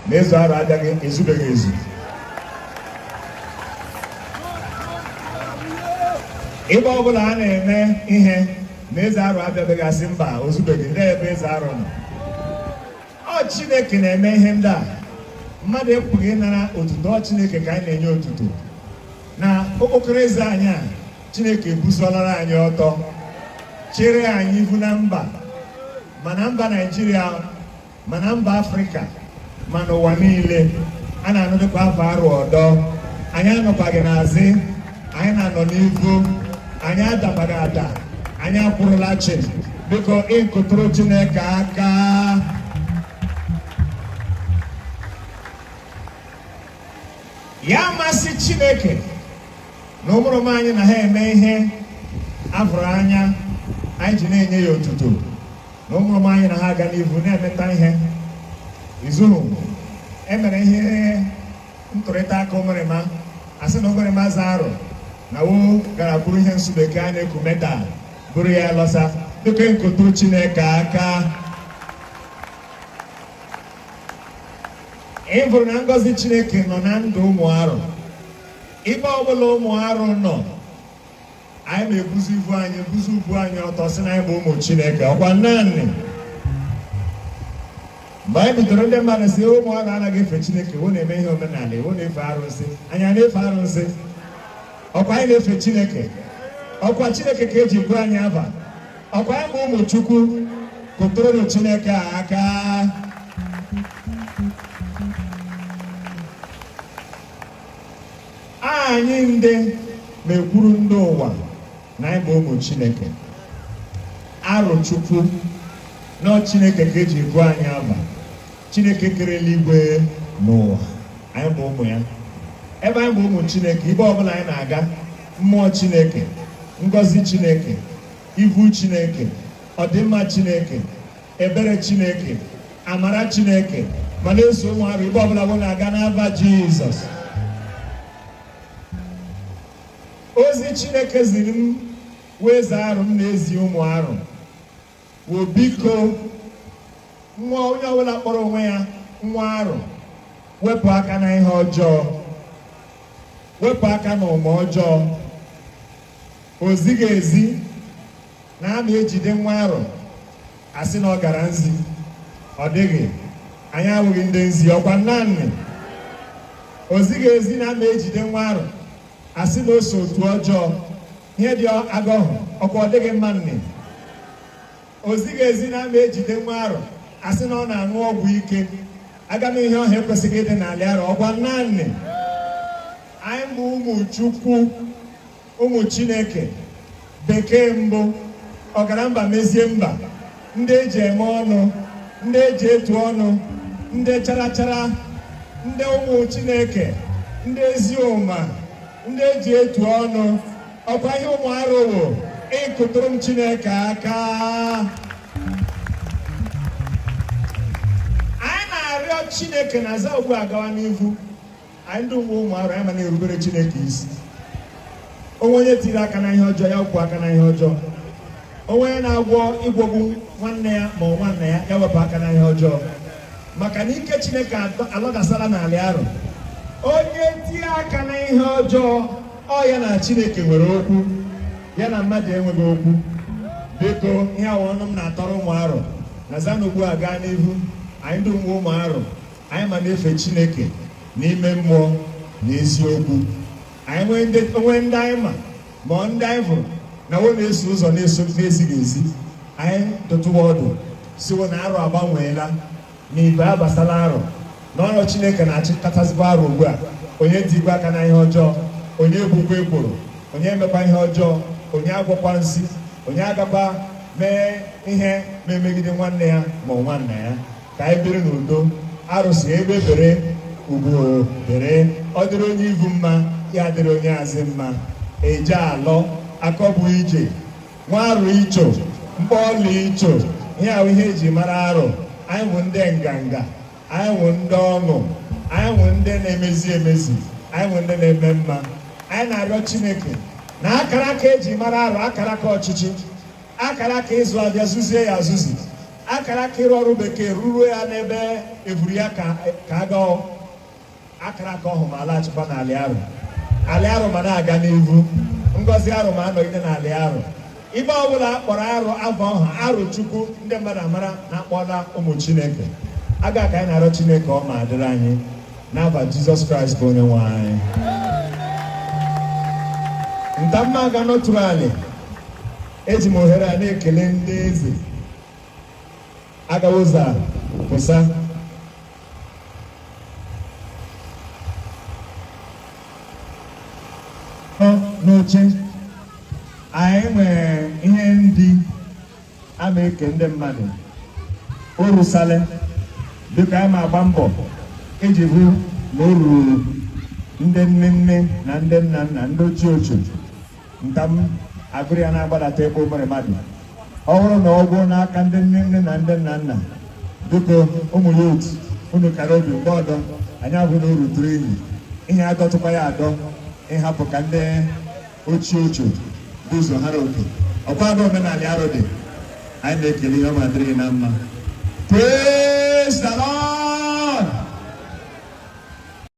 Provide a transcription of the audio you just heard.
na eze arụ abịaghị ezubeghị ezu ebe ọbụla a na-eme ihe na eze arụ abịabeghị asị mba ozubeghị ndị ebe eze arụ nọ ọ chineke na-eme ihe ndị a mmadụ ekwesịghị ịnara otuto ọ chineke ka anyị na-enye otuto na okpokoro eze anyị a chineke ebusolara anyị ọtọ chere anyị ihu na mba ma na mba naijiria ma na mba afrịka ma n'ụwa niile a na-anụdịkwa ava arụ ọdọ anyị anọkwaghị n'azị anyị na-anọ n'ihu anyị adakwaghị ada anyị akwụrụla chịm biko ịkụtụrụ chineke aka ya masị chineke na ụmụrịma anyị na ha eme ihe afụrụ anya anyị ji na-enye ya otuto na ụmụrịma anyị na ha aga n'ihu na-emeta ihe izu emere ihe ntụrịta aka ụmụrịma asị na ụmụrịma eze arụ na wo gara buru ihe nsụ bekee a na-eku medal buru ya lọsa biko kụtụ chineke aka ị fụrụ na ngọzi chineke nọ na ndụ ụmụ arụ ibe ọbụla ụmụ arụ nọ anyị na-ebuzi ibu anyị ebuzi ubu anyị ọtọ sị na anyị bụ ụmụ chineke ọkwa naanị mgbe anyị bidoro ndị mmadụ sị ụmụ arụ anaghị efe chineke wo na-eme ihe omenala wo na-efe arụsị anyị a na-efe arụsị ọkwa anyị na-efe chineke ọkwa chineke ka eji gụọ anyị ava ọkwa anyị bụ ụmụ chukwu kụtụrụ chineke aka Anyị ndị na-ekwuru ndị ụwa na anyị bụ ụmụ Chineke Arụchukwu na ọ Chineke ka eji gụọ anyị ava Chineke kere eluigwe na ụwa anyị bụ ụmụ ya ebe anyị bụ ụmụ Chineke ibe ọbụla anyị na-aga mmụọ Chineke ngọzi Chineke ivu Chineke ọdịmma Chineke ebere chineke amara chineke ma na-eso ụmụ arụ ibe ọbụla wo na-aga n'ava jizọs ozi chineke ziri m wụ eze arụ m na-ezi ụmụ arụ wụ biko nwa onye ọbụla kpọrọ onwe ya nwa arụ wepụ aka na ihe ọjọọ wepụ aka na ụma ọjọọ o zighị ezi na a ma ejide nwa arụ asị na ọ gara nzi ọ dịghị anyị awụghị ndị nzi ọkwa naanị o zighị ezi na a ma ejide nwa arụ asị na o so otu ọjọọ ihe dị agọhụ ọkwa ọ dịghị mma nne o zighị ezi na a ma ejide nwa arụ asị na ọ na-aṅụ ọgwụ ike aga m ihe ọhụ ekwesịghị ịdị n'alị arụ ọkwa naanị anyị wụ ụmụ chukwu ụmụ chineke bekee mbụ ọgara mba mezie mba ndị eji eme ọnụ ndị eji etu ọnụ ndị charachara ndị ụmụ chineke ndị ezi ụma ndị eji etu ọnụ ọkwa ihe ụmụ arụ wụ ịkụtụrụ m chineke aka anyị na-arịọ chineke na aza ugbu a gawa n'ivu anyị ndị wụ ụmụ arụ anyị ma na-erubere chineke isi o nwee onye tiri aka na ihe ọjọọ ya wepụ aka na ihe ọjọọ o nwee onye na-agwọ ịgwọgbu nwanne ya ma ọ nwanne ya ya wepụ aka na ihe ọjọọ maka na ike chineke adọ- alọdasala n'alị arụ onye tie aka na ihe ọjọọ ọ ya na chineke nwere okwu ya na mmadụ enweghị okwu biko ihe a wụ ọnụ m na-atọrọ ụmụ arụ na za n'ugbu a gaa n'ihu anyị ndị wụ ụmụ arụ anyị ma na-efe Chineke n'ime mmụọ na eziokwu anyị nwee ndị o nwee ndị anyị ma ma ọ ndị anyị hụrụ na wo na-eso ụzọ na-eso na-ezighị ezi anyị dụtụwa ọdụ sị wo na arụ agbanweela na ibe abasala arụ na ọrụ Chineke na-achịkọtazikwa arụ ugbu a onye etikwa aka na ihe ọjọọ onye ebukwa ekworo onye emekwa ihe ọjọọ onye agwọkwa nsi onye agakwa mee ihe na-emegide nwanne ya ma ọ nwanna ya ka anyị biri n'udo arụ sị egbe bere ugo bere ọ dịrị onye ivu mma ya dịrị onye azị mma eje alọ akọ bụ ije nwa arụ icho mkpọọla icho ihe a wụ ihe eji mara arụ anyị wụ ndị nganga anyị wụ ndị ọnụ anyị wụ ndị na-emezi emezi anyị wụ ndị na-eme mma anyị na-arịọ chineke na akara aka eji mara arụ akara aka ọchịchị akara aka ịzụ avịa zụzie ya azụzi akara aka ịrụ ọrụ bekee rụruo ya n'ebe evuru ya ka aga akara aka ọhụ ma alaghachikwa n'alị arụ alị arụ ma na-aga n'ivu ngọzi arụ ma anọgide n'alị arụ ibe ọbụla akpọrọ arụ ava ọhụ arụ chukwu ndị mmadụ amara na akpọọla ụmụ chineke aga ka anyị na-arịọ chineke ọ ma adịrị anyị n'ava jizọs kraịst bụ onye nwe anyị ntamma aga nọtụrụ alị eji m ohere a na-ekele ndị eze agawa ụzọ pụsa n'oche anyị nwere ihe ndị a na-eke ndị mmadụ o rusale dịka anyị ma agba mbọ iji hụ na o ruru ndị nne nne na ndị nna nna ndị ochie ochie ntam agụrụ ya na-agbadata ebe o mere mmadụ ọ bụrụ na ọ gwụọ n'aka ndị nne nne na ndị nna nna biko ụmụ ya otu unu kara obi mgbe ọdọ anyị ahụ na o ruturu unu ihe adọtụkwa ya adọ ịhapụ ka ndị ochie ochie bu ụzọ hara oke ọkwa aga omenala anyị dị anyị na-ekele ihe ọma dịrị gị na mma praise the lord